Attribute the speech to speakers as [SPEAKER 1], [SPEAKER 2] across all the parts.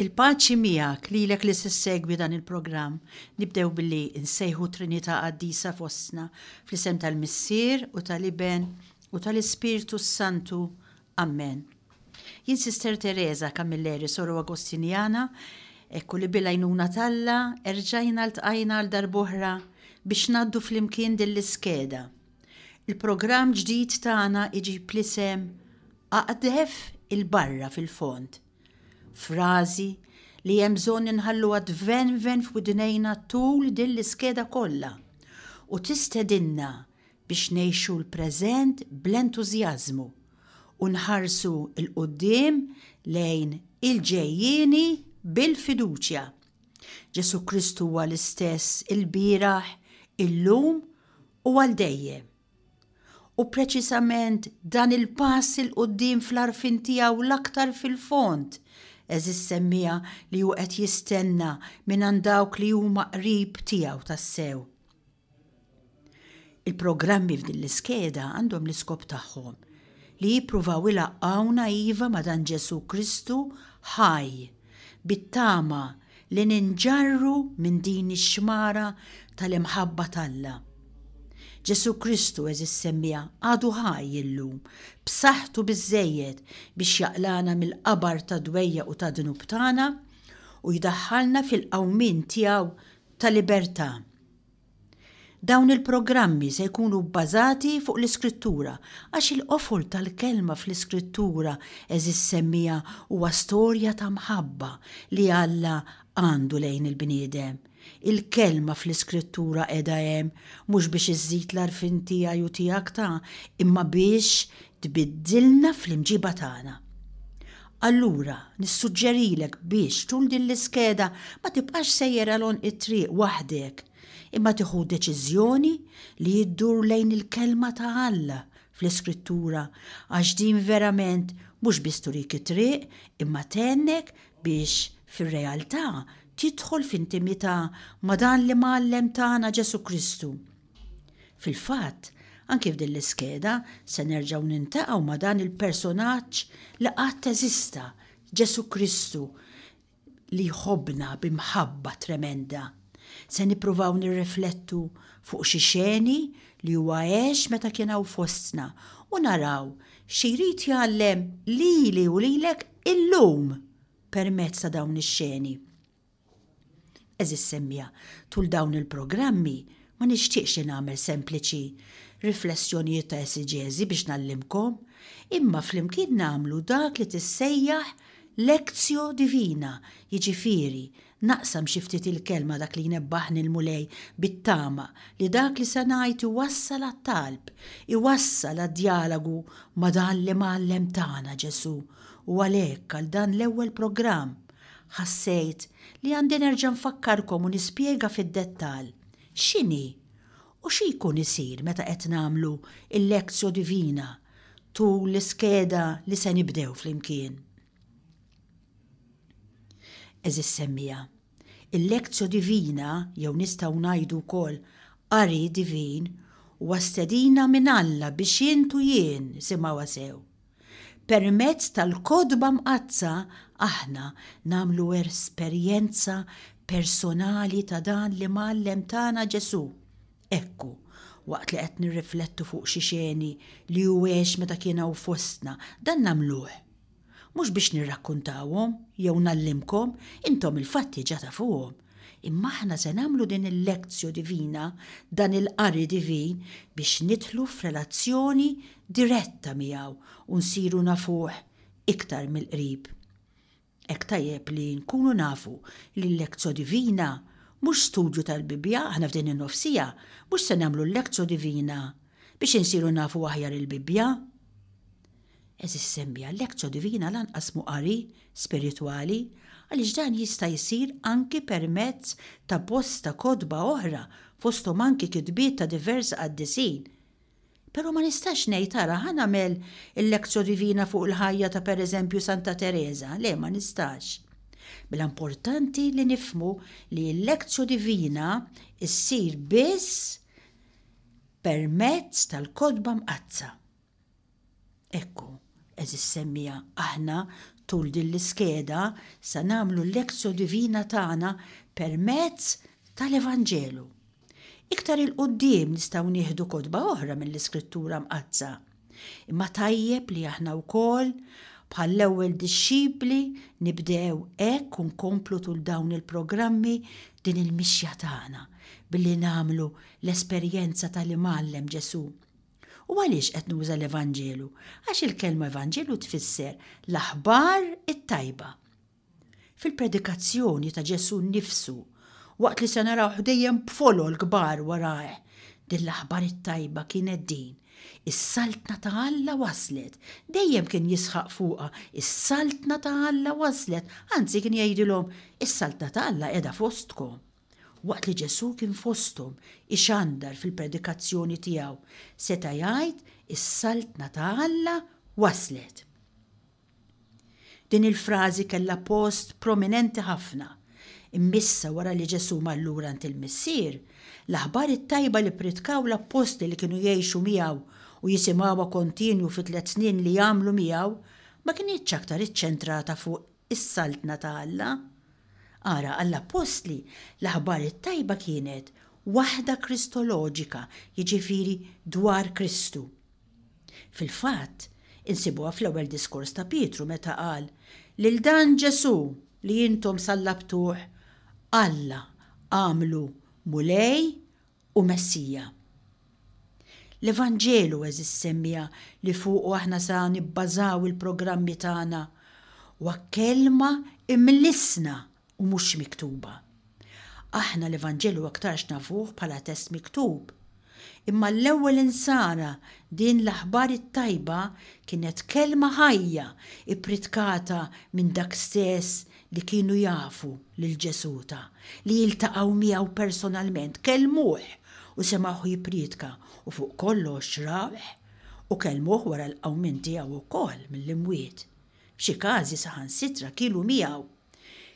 [SPEAKER 1] Il-paċi miegħek, lilek li se ssegwi dan il-programm. Nibdew billi nsejħu Trinità qaddisa fostna, fl-isem tal-Missier u tal-Iben u tal-Ispirtu s-Santu. Ammen. Jien Sister Teresa Camilleri, Soru Agostinjana, ekku li bil-għajnuna t'Alla erġajna ltqajna għal darb'oħra biex ngħaddu flimkien din l-iskeda. Il-programm ġdid tagħna iġib l-isem Aqdef 'il barra fil-fond. Frażi li hemm bżonn inħalluha tvenven f'widnejna tul din l-iskeda kollha u tistedinna biex ngħixu l-preżent bl-entużjażmu u nħarsu 'l quddiem lejn il-ġejjieni bil-fiduċja. Ġesù Kristu huwa l-istess il-bieraħ, illum u għal dejjem. U preċisament dan il-pass il qudiem fl-arfin tiegħu l-aktar fil-fond, eżis semmija li hu qed jistenna minn dawk li huma qrib tiegħu tassew. Il-programmi f'din l-iskeda għandhom l-iskop tagħhom li jippruvaw ilaqqgħuna iva ma' dan Ġesù Kristu ħaj, bit-tama li ninġarru minn din ix-xmara tal-imħabba t'Alla. Ġesù Kristu, għeżież semmiegħa, għadu ħaj illum, b'saħħtu biżżejjed biex jaqlagħna mill-qabar tad-dwejjaq u tad-dnub tagħna u jdaħħalna fil-qawmien tiegħu ta' libertà. Dawn il-programmi se jkunu bbażati fuq l-Iskrittura, għax il-qofol tal-kelma fl-Iskrittura għeżież semmiegħa huwa storja ta' mħabba li Alla għandu lejn il-bniedem. Il-kelma fl-Iskrittura qiegħda hemm mhux biex iżżid l-għarfien tiegħi u tiegħek ta' imma biex tbiddilna fl-imġiba tagħna. Allura, nissuġġerilek biex tul din l-iskeda ma tibqax sejjer għal għonq it-triq waħdek, imma tieħu deċiżjoni li ddur lejn il-Kelma ta' Alla fl-Iskrittura għax din verament mhux biss turik it-triq imma tgħennek biex fir-realtà tidħol f'intimità ma' dan l-Imgħallem tagħna Ġesù Kristu. Fil-fatt, anki f'din l-iskeda se nerġgħu niltaqgħu ma' dan il-personaġġ li qatt eżista, Ġesù Kristu li jħobbna bi mħabba tremenda. Se nippruvaw nirriflettu fuq xi xeni li huwa għex meta kien hawn fostna u naraw xi jrid jgħallem lili u lilek illum permezz ta' dawn ix-xeni. Għeżież semmiegħa, tul dawn il-programmi ma nixtieqx li nagħmel sempliċi riflessjonijiet ta' esigezi biex ngħallimkom, imma flimkien nagħmlu dak li tissejjaħ lectio divina, jiġifieri, naqsam xi ftit il-Kelma dak li jnebbaħni l-Mulej bit-tama li dak li se ngħid iwassal għat-talb, iwassal għad-djalagu ma' dan l-Imgħallem tagħna, Ġesù, u għalhekk għal dan l-ewwel programm, Ħassejt li għandi nerġa' nfakkarkom u nispjega fid-dettall x'inhi u xi jkun isir meta qed nagħmlu l-Lectio Divina tul l-iskeda li se nibdew flimkien. Għeżież semmiegħa, il-Lectio Divina, jew nistgħu ngħidu wkoll Qari Divin, huwa stedina minn Alla biex int u jien, isimgħuha sew, Permezz tal-Kotba Mqaddsa aħna nagħmlu esperjenza personali ta' dan l-Imgħallem tagħna Ġesù. Ekku, waqt li qed nirriflettu fuq xi xeni li hu għex meta kien hawn fostna, dan nagħmluh. Mhux biex nirrakkuntawhom jew ngħallimkom, intom il-fatti ġa tafuhom, Imma aħna se nagħmlu din il-lectio divina, dan il-qari divin, biex nidħlu f'relazzjoni diretta miegħu u nsiru nafuh iktar mill-qrib. Hekk tajjeb li nkunu nafu li l-lectio divina mhux studju tal-Bibbja, aħna f'din in-nofsija mhux se nagħmlu l-lectio divina biex insiru nafu aħjar il-Bibbja. Għeżież semmie, għalhekk Co Divina lanqas mhu qari spiritwali, għaliex dan jista' jsir anki permezz ta' bosta kotba oħra, fosthom anki kitbiet ta' diversi qaddisin. Però ma nistax ngħid, ara, ħa nagħmel il-Lectio Divina fuq il-ħajja ta' pereżempju Santa Tereża, le ma nistax. Mela importanti li nifhmu li l-Lectio Divina ssir biss permezz tal-Kotba Mqaddsa. Ekku, għeżież semmiegħa, aħna, tul din l-iskeda, se nagħmlu l-Lectio Divina tagħna permezz tal-Evanġelu. Iktar 'il quddiem nistgħu nieħdu kotba oħra mill-Iskrittura Mqaddsa. Imma tajjeb li aħna wkoll, bħall-ewwel dixxipli, nibdew hekk u nkomplu tul dawn il-programmi din il-mixja tagħna billi nagħmlu l-esperjenza tal-Imgħallem Ġesù U għaliex qed nuża l-Evanġelu? Għax il-kelma Evanġelu tfisser l-aħbar it-tajba. Fil-predikazzjoni ta' Ġesù nnifsu, waqt li se naraw ħdejjem b'folol kbar warajh, din l-aħbar it-tajba kienet din, Is-Saltna ta' Alla waslet. Dejjem kien jisħaq fuqha, Is-Saltna ta' Alla waslet, anzi kien jgħidilhom, Is-Saltna ta' Alla qiegħda fostkom. Waqt li Ġesù kien fosthom ixandar fil-predikazzjoni tiegħu, seta' jgħid, Is-Saltna ta' Alla waslet! Din il-frażi kellha post prominenti ħafna. Immissa wara li Ġesù mar lura għand il-Missier, l-aħbar it-tajba li ppritkaw l-appostli li kienu jgħixu miegħu u jisimgħuha kontinwu fit-tliet snin li għamlu miegħu ma kinitx aktar iċċentrata fuq is-Saltna ta' Alla. Ara, għall-appostli, l-aħbar it-tajba kienet waħda kristoloġika, jiġifieri dwar Kristu. Fil-fatt, insibuha fl-ewwel diskors ta' Pietru meta qal, Lil dan Ġesù li intom sallabtuh, Alla għamlu Mulej u Messija. L-Evanġelu għeżież semmiegħa li fuqu aħna sa nibbażaw il-programmi tagħna huwa kelma imlissna u mhux miktuba. Aħna l-Evanġelu aktarx nafuh bħala test miktub. Imma l-ewwel insara din l-aħbar it-tajba kienet kelma ħajja ippritkata minn dak stess li kienu jafu lil Ġesù ta, li jiltaqgħu miegħu personalment, kellmuh u semgħuh jipprietka u fuq kollox rawh u kellmuh wara l-qawmien tiegħu wkoll mill-imwiet. F'xi każi saħansitra kielu miegħu.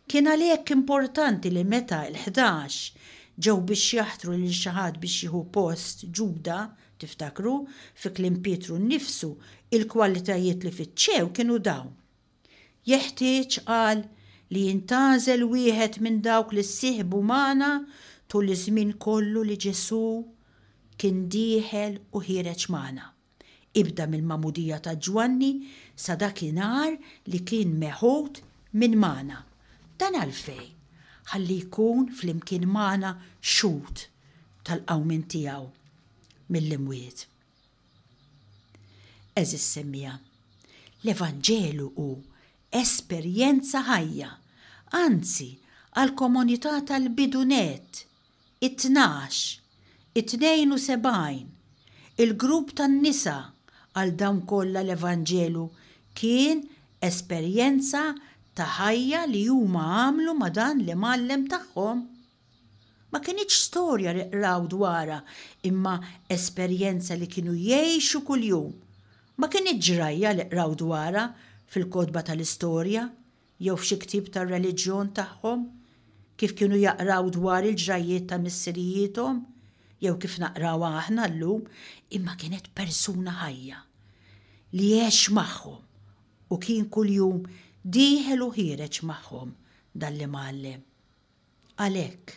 [SPEAKER 1] Kien għalhekk importanti li meta l-ħdax ġew biex jaħtru lil xi ħadd biex jieħu post Ġuda, tiftakru, fi kliem Pietru nnifsu, il-kwalitajiet li fittxew kienu dawn. Jeħtieġ, qal, li jintgħażel wieħed minn dawk li ssieħbu magħna tul iż-żmien kollu li Ġesù kien dieħel u ħiereġ magħna, ibda mill-magħmudija ta' Ġwanni sa dakinhar li kien meħud minn magħna. Dan għalfejn? Ħalli jkun flimkien magħna xhud tal-qawmien tiegħu mill-imwiet. Għeżież semmiegħa, l-Evanġelu hu esperjenza ħajja, anzi għall-komunità tal-bidu nett, it-tnax, it-tnejn u sebgħin, il-grupp tan-nisa, għal dawn kollha l-Evanġelu kien esperjenza ta' ħajja li huma għamlu ma' dan l-Imgħallem tagħhom. Ma kinitx storja li qraw dwarha imma esperjenza li kienu jgħixu kuljum. Ma kinitx ġrajja li qraw dwarha fil-kotba tal-istorja jew f'xi ktieb tar-reliġjon tagħhom, kif kienu jaqraw dwar il-ġrajjiet ta' missirijiethom jew kif naqrawha aħna llum, imma kienet persuna ħajja li għex magħhom u kien kuljum dieħel u ħiereġ magħhom dan l-Imgħallem. Għalhekk,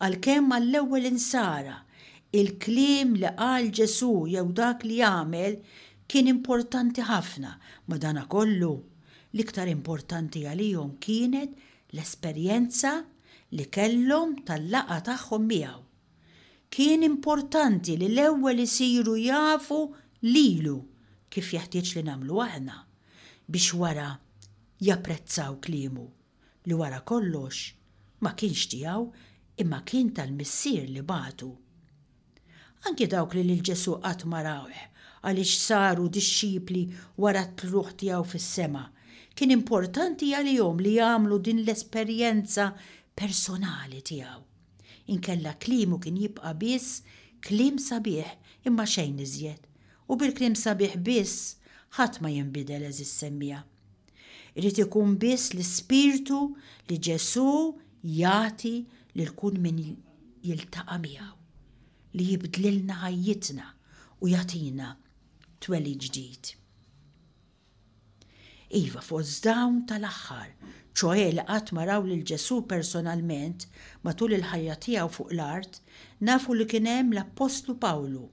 [SPEAKER 1] għalkemm għall-ewwel Insara l-kliem li qal Ġesù jew dak li għamel kien importanti ħafna, madankollu, l-iktar importanti għalihom kienet l-esperjenza li kellhom tal-laqgħa tagħhom miegħu. Kien importanti li l-ewwel isiru jafu lilu, kif jeħtieġ li nagħmlu aħna, biex wara japprezzaw kliemu. li wara kollox ma kienx tiegħu imma kien tal-Missier li bagħtu. Anki dawk li lil Ġesù qatt ma rawh għaliex saru dixxipli wara t-tlugħ tiegħu fis-sema, kien importanti għalihom li jagħmlu din l-esperjenza personali tiegħu. Inkella kliemu kien jibqa' biss kliem sabiħ imma xejn iżjed, u bil-kliem sabiħ biss ħadd ma jinbidel għeżież semmiegħa. Irid ikun biss l-ispirtu li Ġesù jagħti lil kull min jiltaqa' miegħu li jibdlilna ħajjitna u jagħtina twelid ġdid. Iva fost dawn tal-aħħar, ċoħe li qatt ma raw lil Ġesù personalment matul il-ħajja tiegħu fuq l-art, nafu li kien hemm l-Appostlu Pawlu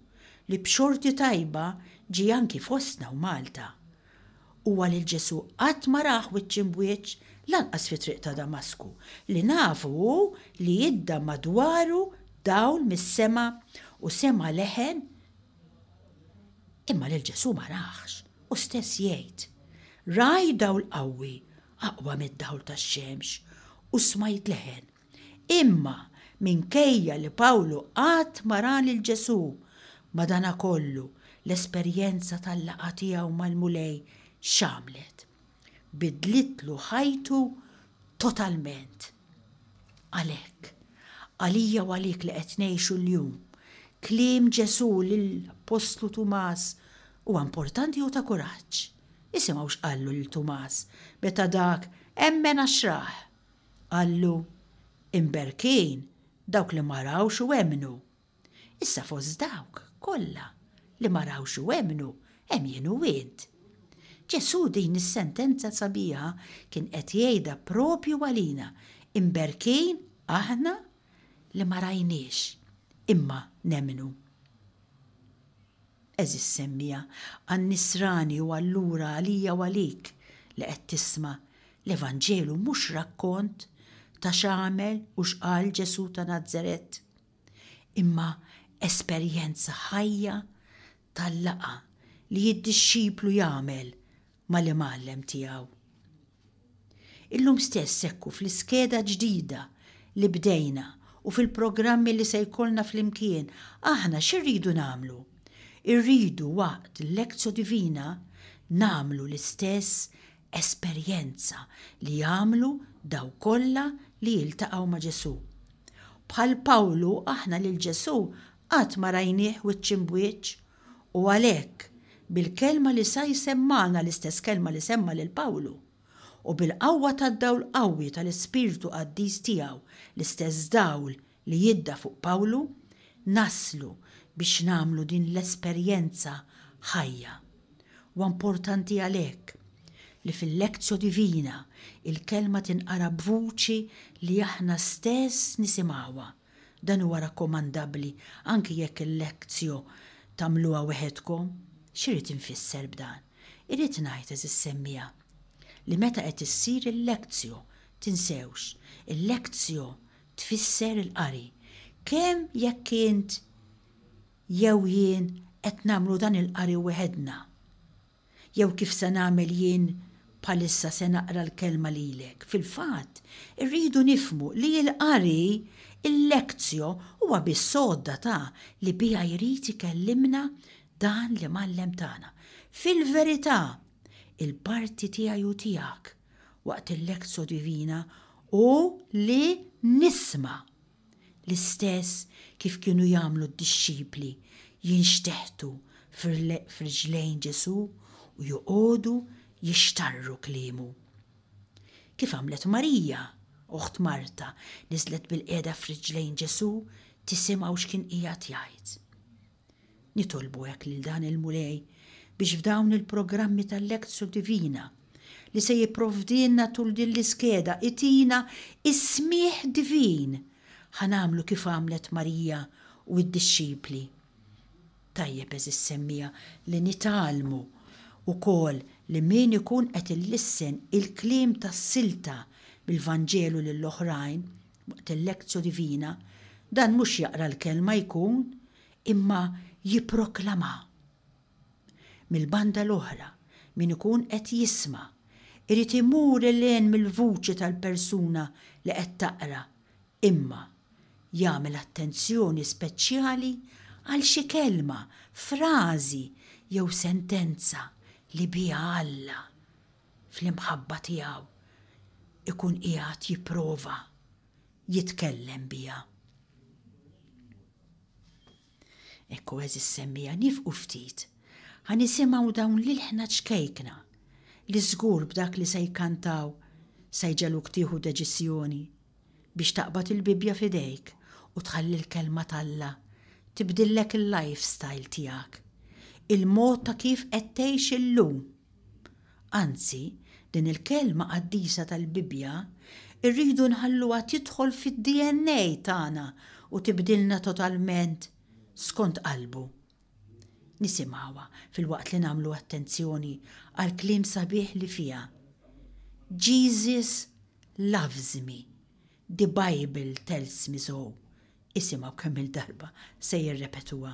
[SPEAKER 1] li b'xorti tajba ġie anki fostna u Malta Huwa lil Ġesù qatt ma rah wiċċ imb'wiċċ, lanqas fit-triq ta' Damasku, li nafu hu li idda madwaru dawl mis-sema u sema' leħen imma lil Ġesù ma rahx, hu stess jgħid, Rajt dawl qawwi, aqwa mid-dawl tax-xemx, u smajt leħen. Imma minkejja li Pawlu qatt ma ra lil Ġesù, madankollu l-esperjenza tal-laqgħa tiegħu mal-Mulej x'għamlet? Bidlitlu ħajtu totalment. Għalhekk, għalija u għalik li qed ngħixu llum, kliem Ġesù lill-appostlu Tumas huwa importanti u ta' kuraġġ. Isimgħu x'qallu lil Tumas meta dak emmen għax rah. Qallu, Imberkin dawk li ma rawx u emmnu. Issa fost dawk kollha li ma rawx u emmnu hemm jien u int. Ġesù din is-sentenza sabiħa kien qed jgħidha proprju għalina, imberkin aħna li ma rajniex, imma nemmnu. Għeżież semmiegħa, għan-Nisrani u allura għalija u għalik li qed tisma', l-Evanġelu mhux rakkont ta' x'għamel u x'qal Ġesù ta' Nazaret, imma esperjenza ħajja tal-laqgħa li d-dixxiplu jagħmel mal-Imgħallem tiegħu. Illum stess hekk hu fl-iskeda ġdida li bdejna u fil-programmi li se jkollna flimkien, aħna x'irridu nagħmlu? Irridu waqt l-Lectio Divina nagħmlu l-istess esperjenza li għamlu dawk kollha li iltaqgħu ma' Ġesù. Bħal Pawlu aħna lil Ġesù qatt ma rajnieh wiċċ imb'wiċċ U għalhekk, bil-kelma li sa jsemmagħna l-istess kelma li semma' lil Pawlu, u bil-qawwa tad-dawl qawwi tal-ispirtu qaddis tiegħu, l-istess dawl li jidda fuq Pawlu, naslu biex nagħmlu din l-esperjenza ħajja. Huwa importanti għalhekk li fil-Lectio Divina il-kelma tinqara b'vuċi li aħna stess nisimgħuha, Dan huwa rakkomandabbli anki jekk il-lectio tagħmluha weħedkom. X'irid infisser b'dan? Irrid ngħid, għeżież semmiegħa, li meta qed issir il-lectio, tinsewx, il-lectio tfisser il-qari. Kemm jekk int jew jien qed nagħmlu dan il-qari weħedna. jew kif se nagħmel jien bħalissa se naqra l-Kelma lilek. Fil-fatt, irridu nifhmu li l-qari, il-lectio, huwa biss għodda ta' li biha jrid ikellimna dan l-Imgħallem tagħna. Fil-verità, il-parti tiegħi u tiegħek waqt il-lectio divina hu li nisma'. l-istess kif kienu jagħmlu d-dixxipli jinxteħtu f'riġlejn Ġesù u joqogħdu jixtarru kliemu. Kif għamlet Marija, oħt Marta, niżlet bilqiegħda f'riġlejn Ġesù tisimgħu x'kien qiegħed jgħid. Nitolbu hekk lil dan il-Mulej biex f'dawn il-programmi tal-Lectio Divina li se jipprovdilna tul din l-iskeda itina is-smigħ divin ħa nagħmlu kif għamlet Marija u d-dixxipli. Tajjeb għeżież semmiegħa li nitgħallmu wkoll li min ikun qed ilissen il-kliem tas-silta mill-Vanġelu lil oħrajn Waqt il-Lectio Divina, dan mhux jaqra l-Kelma jkun imma jipproklamha. Mill-banda l-oħra, min ikun qed jisma' irid imur 'il hinn mill-vuċi tal-persuna li qed taqra imma jagħmel attenzjoni speċjali għal xi kelma, frażi jew sentenza li biha Alla fl-imħabba tiegħu jkun qiegħed jipprova jitkellem biha. Ekku eżis semmija nifqu ftit ħa nisimgħu dawn l-ilħna ċkejkna li żgur b'dak li se jkantaw se jġeluk tieħu deċiżjoni biex taqbad il-Bibbja f'idejk u tħalli l-Kelma t'Alla tibdillek il-lifestyle tiegħek, il-mod ta' kif qed tgħix illum. Anzi, din il-kelma qaddisa tal-Bibbja rridu nħalluha tidħol fid-DNA tagħna u tibdilna totalment skont qalbu. Nisimgħuha filwaqt li nagħmlu attenzjoni għall-kliem sabiħ li fiha, Jesus loves me, the Bible tells me so. Isimgħu kemm-il darba se jirrepetuha.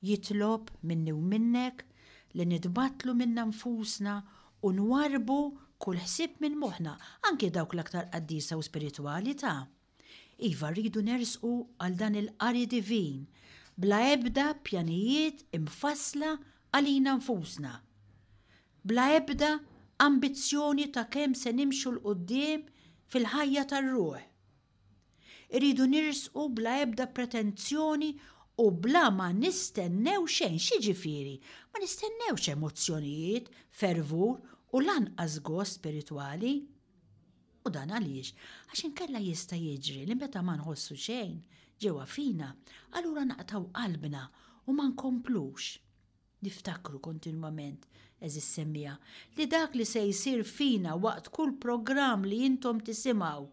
[SPEAKER 1] Jitlob minni u minnek li nitbattlu minna nfusna u nwarrbu kull ħsieb minn moħħna, anki dawk l-aktar qaddisa u spiritwali ta'. Iva, rridu nersqu għal dan il-qari divin bla ebda pjanijiet imfassla għalina nfusna, bla ebda ambizzjoni ta' kemm se nimxu 'l quddiem fil-ħajja tar-ruħ. Irridu nirsqu bla ebda pretenzjoni u bla ma nistennew xejn. X'jiġifieri? Ma nistennewx emozzjonijiet, fervur u lanqas gost spiritwali. U dan għaliex? Għax inkella jista' jiġri li meta ma nħossu xejn ġewwa fina, allura naqtgħu qalbna u ma nkomplux. Niftakru kontinwament, għeżież semmiegħa, li dak li se jsir fina waqt kull programm li intom tisimgħu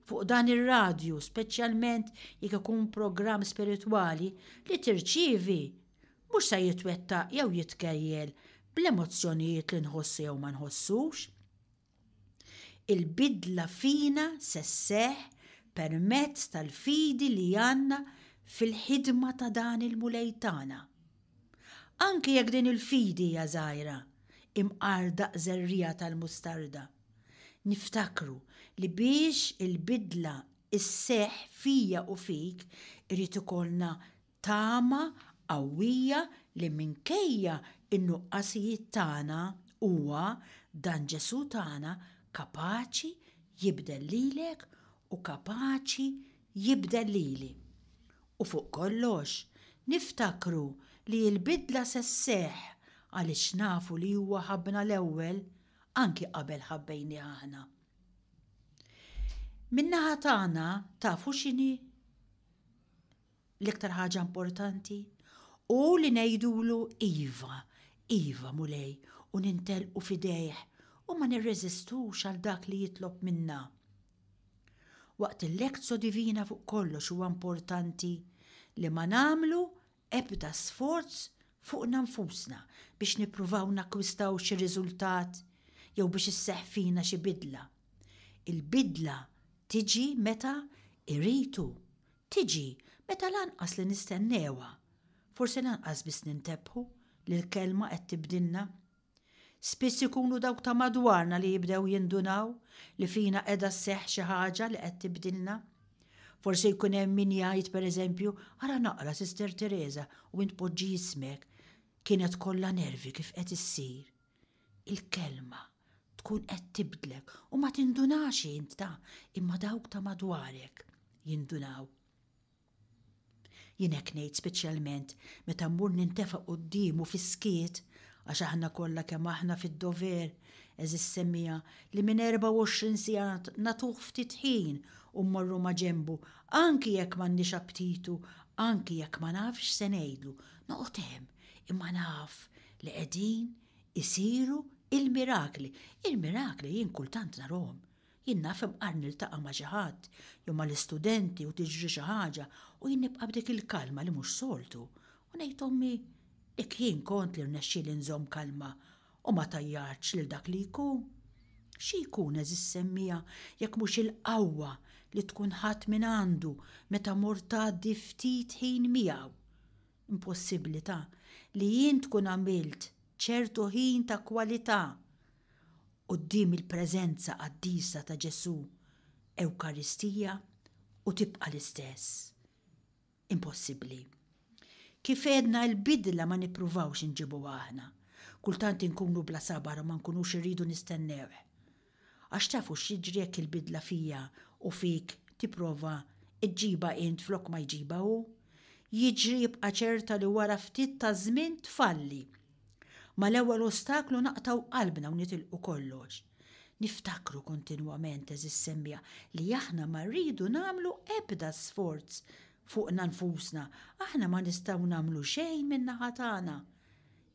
[SPEAKER 1] fuq dan ir-radju, speċjalment jekk ikun programm spiritwali, li tirċievi, mhux se jitwettaq jew jitkejjel bl-emozzjonijiet li nħossu jew ma nħossux. Il-bidla fina se sseħħ permezz tal-fidi li għandna fil-ħidma ta' dan il-Mulej tagħna. Anke jekk din il-fidi hija żgħira, imqar daqs żerriegħa tal-mustarda, niftakru li biex il-bidla sseħħ fija u fik irid ikollna Tama qawwija li minkejja n-nuqqasijiet tagħna huwa, dan Ġesù tagħna, kapaċi jibdel lilek u kapaċi jibdel lili. U fuq kollox, niftakru li l-bidla se sseħħ għaliex nafu li huwa ħabbna l-ewwel, anki qabel ħabbejnieh aħna. Min-naħa tagħna tafu x'inhi l-iktar ħaġa importanti u li ngħidulu iva, iva Mulej u nintelqu f'idejh u ma nirreżistux għal dak li jitlob minna. Waqt il-Lekzo Divina fuq kollox huwa importanti li ma nagħmlu ebda sforz fuqna nfusna biex nippruvaw nakkwistaw xi riżultat jew biex isseħħ fina xi bidla. Il-bidla tiġi meta iritu Tiġi, meta lanqas li nistennewha. Forsi lanqas biss nintebħu li l-Kelma qed tibdilna. Spiss ikunu dawk ta' madwarna li jibdew jindunaw li fina qiegħda sseħħ xi ħaġa li qed tibdilna. Forsi jkun hemm min jgħid, per eżempju, ara naqra Sister Teresa u int poġġi jismek, kienet kollha nervi kif qed issir. Il-kelma tkun qed tibdlek u ma tindunax int ta' imma dawk ta' madwarek jindunaw. Jien hekk ngħid speċjalment meta mmur nintefa' quddiemu fis-skiet għax aħna kollha kemm aħna fid-dover, għeżiż semmiegħa, li minn 24 siegħa nagħtuh ftit ħin u mmorru ma' ġenbu anki jekk m'għandniex apptitu, anki jekk ma nafx x'se ngħidlu, noqgħod hemm imma naf li qegħdin isiru il-mirakli. Il-mirakli jien kultant narhom. Jien naf imqar niltaqa' ma' xi ħadd jew mal-istudenti u tiġri xi ħaġa u jien nibqa' b'dik il-kalma li mhux soltu u ngħid ommi jekk jien kont li rnexxieli nżomm kalma u ma tajjartx lil dak li jkun. Xi jkun għeżież semmiegħa jekk mhux il-qawwa li tkun ħadt mingħandu meta mort tgħaddi ftit ħin miegħu. impossibilità li int tkun għamilt ċertu ħin ta' kwalità quddiem il-preżenza qaddisa ta' Ġesù, Ewkaristija, u tibqa' l-istess. Impossibbli. Kif għedna il-bidla ma nippruvawx inġibuha aħna. Kultant inkunu bla sabar u ma nkunux irridu nistennewh. Għax tafu x'jiġri jekk il-bidla fija u fik tipprova ġġibha int flok ma jġibha hu? Jiġri ibqa' ċerta li wara ftit taż-żmien tfalli. Mal-ewwel ostaklu naqtgħu qalbna u nitilqu kollox. Niftakru kontinwament, għeżież semmiegħa, li aħna ma rridu nagħmlu ebda sforz fuqna nfusna, aħna ma nistgħu nagħmlu xejn min-naħa tagħna.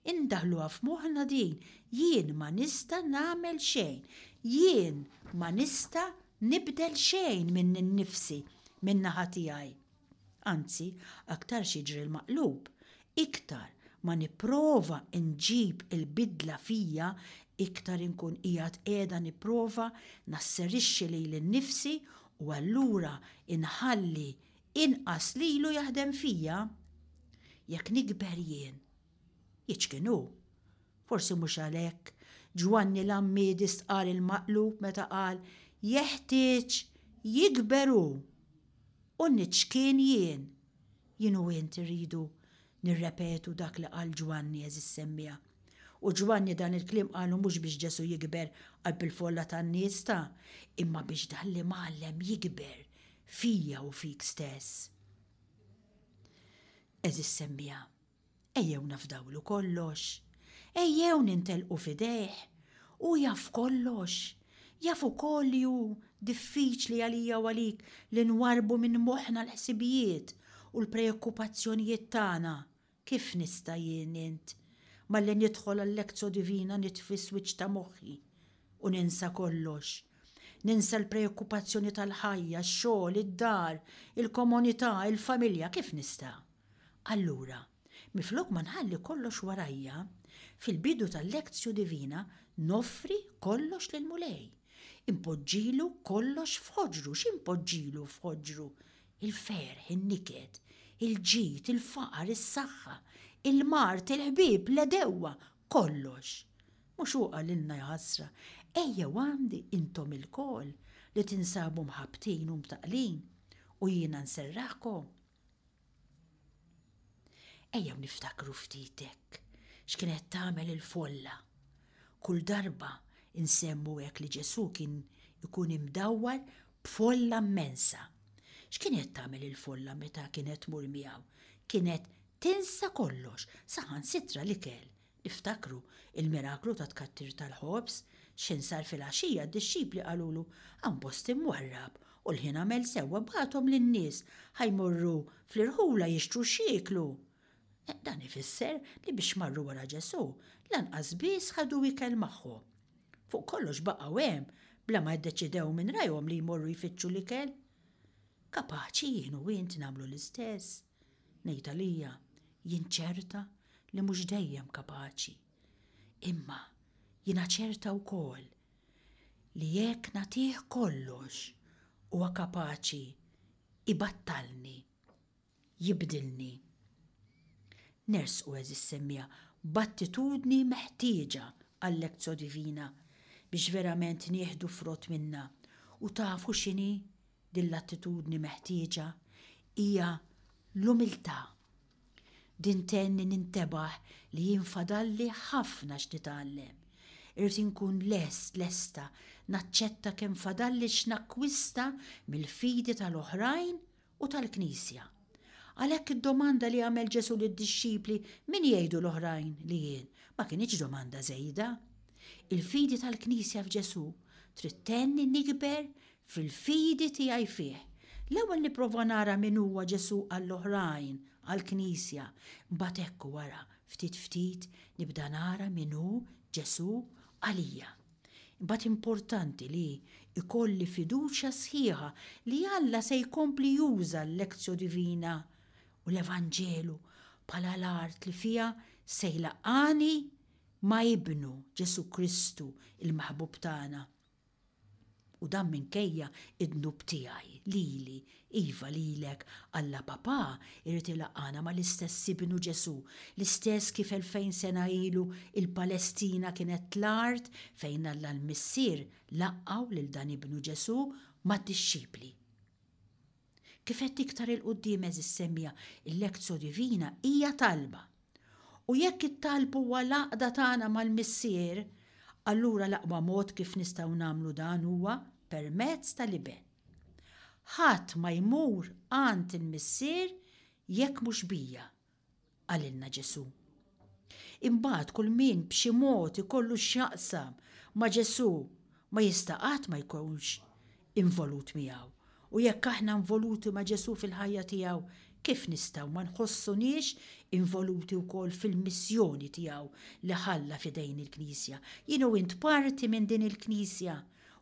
[SPEAKER 1] Indaħħluha f'moħħna din, jien ma nista' nagħmel xejn, jien ma nista' nibdel xejn minni nnifsi, min-naħa tiegħi. Anzi, aktarx jiġri l-maqlub, iktar ma nipprova nġib il-bidla fija, iktar inkun qiegħed qiegħda nipprova nasserixxi lili nnifsi u allura inħalli Inqas li ilu jaħdem fija? Jekk nikber jien. Jiċkien hu. Forsi mhux għalhekk Ġwanni l-Għammiedi stqarr il-maqlub meta qal jeħtieġ jikber hu u niċkien jien. Jien u int irridu nirrepetu dak li qal Ġwanni, għeżiż semmiegħa. U Ġwanni dan il-kliem qalu mhux biex Ġesù jikber qalb il-folla tan-nies ta', imma biex dan li mgħallem jikber fija u fik stess. Għeżież semmiegħa, ejjew nafdawlu kollox. Ejjew nintelqu f'idejh. Hu jaf kollox. Jaf ukoll li hu diffiċli għalija u għalik li nwarrbu minn moħħna l-ħsibijiet u l-preokkupazzjonijiet tagħna Kif nista' jien, int, malli nidħol għal-Lectio Divina nitfi s-swiċċ ta' moħħi u ninsa kollox? Ninsa l-preokkupazzjoni tal-ħajja, x-xogħol, id-dar, il-komunità, il-familja, kif nista'? Allura, minflok ma nħalli kollox warajja, fil-bidu tal-Lectio Divina noffri kollox lill-Mulej. Inpoġġilu kollox f'ħoġru, x'inpoġġilu f'ħoġru? Il-ferħ, in-niket, il-ġid, il-faqar, is-saħħa, il-mard, il-ħbieb, l-għedewwa, kollox. Mhux hu qalilna jaħasra, Ejjew għandi intom ilkoll li tinsabu mħabbtin u mtaqqlin, u jiena nserraħkom? Ejjew niftakru ftit hekk x'kienet tagħmel il-folla. Kull darba nsemmu hekk li Ġesù kien ikun imdawwar b'folla mmensa. X'kienet tagħmel il-folla meta kienet tmur miegħu? Kienet tinsa kollox, saħansitra l-ikel Iftakru l-miraklu tat-tkattir tal-ħobż, x'insar filgħaxija d-dixxipli qalulu, Hawn post imwarrab, u l-ħin għamel sewwa bgħathom lin-nies, ħa jmorru fl-irħula jixtru x'jieklu. Dan ifisser li biex marru wara Ġesù, lanqas biss ħadu ikel magħhom. Fuq kollox baqgħu hemm bla ma ddeċidew minn rajhom li jmorru jfittxu l-ikel. Kapaċi jien u int nagħmlu l-istess? Ngħid għalija, jien ċerta li mhux dejjem kapaċi, imma jiena ċerta wkoll li jekk nagħtih kollox huwa kapaċi ibattalni, jibdilni. Nersqu, għeżież semmiegħa, b'attitudni meħtieġa għal-Lectio Divina biex verament nieħdu frott minnha u tafu x'inhi? Din l-attitudni meħtieġa hija l-umiltà. Din tgħinni nintebaħ li jien fadalli ħafna x'nitgħallem. Irrid inkun lest, lesta, naċċetta kemm fadalli x'nakkwista mill-fidi tal-oħrajn u tal-Knisja. Għalhekk id-domanda li għamel Ġesù lid-dixxipli min jgħidu l-oħrajn li jien ma kinitx domanda żejda. Il-fidi tal-Knisja f'Ġesù trid tgħinni nikber fil-fidi tiegħi fih, l-ewwel nipprova nara min huwa Ġesù għall-oħrajn, għall-Knisja, imbagħad hekk wara, ftit ftit, nibda nara min hu Ġesù għalija. Imbagħad importanti li jkolli fiduċja sħiħa li Alla se jkompli juża l-Lectio Divina u l-Evanġelu bħala l-art li fiha se jlaqqagħni ma' Ibnu, Ġesù Kristu, il-Maħbub tagħna. U dan minkejja d-dnub tiegħi, lili, iva, lilek, Alla Papà jrid ilaqqagħna mal-istess Ibnu Ġesù, l-istess kif elfejn sena ilu l-Palestina kienet l-art fejn Alla l-Missier laqqgħu lil dan Ibnu Ġesù mad-dixxipli. Kif għedt iktar 'il quddiem għeżież semija, il-Lectio Divina hija talba. U jekk it-talb huwa l-għaqda tagħna mal-Missier, allura l-aqwa mod kif nistgħu nagħmlu dan huwa permezz tal-Iben. Ħadd ma jmur għand il-Missier jekk mhux bija, qalilna Ġesù. Imbagħad kull min b'xi mod ikollu x'jaqsam ma' Ġesù ma jista' qatt ma jkunx involut miegħu. U jekk aħna involuti ma' Ġesù fil-ħajja tiegħu, kif nistgħu ma nħossuniex involuti wkoll fil-missjoni tiegħu li ħalla f'idejn il-Knisja? Jien u int parti minn din il-Knisja.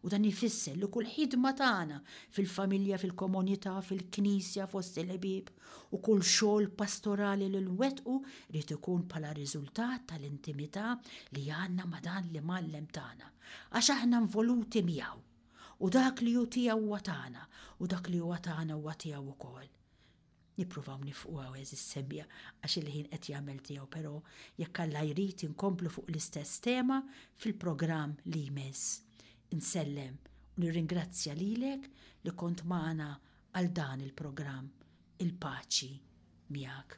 [SPEAKER 1] U dan ifisser li kull ħidma tagħna, fil-familja, fil-komunità, fil-Knisja, fost il-ħbieb, u kull xogħol pastorali li nwettqu jrid ikun bħala riżultat tal-intimità li għandna ma' dan l-Imgħallem tagħna, għax aħna involuti miegħu, u dak li hu tiegħu huwa tagħna, u dak li huwa tagħna huwa tiegħu wkoll. Nippruvaw nifqu hawn għeżież semmija għax il-ħin qed jagħmel tiegħu però jekk Alla jrid inkomplu fuq l-istess tema fil-programm li jmiss. Insellem u nirringrazzja lilek li kont magħna għal dan il-programm. Il-paċi miegħek.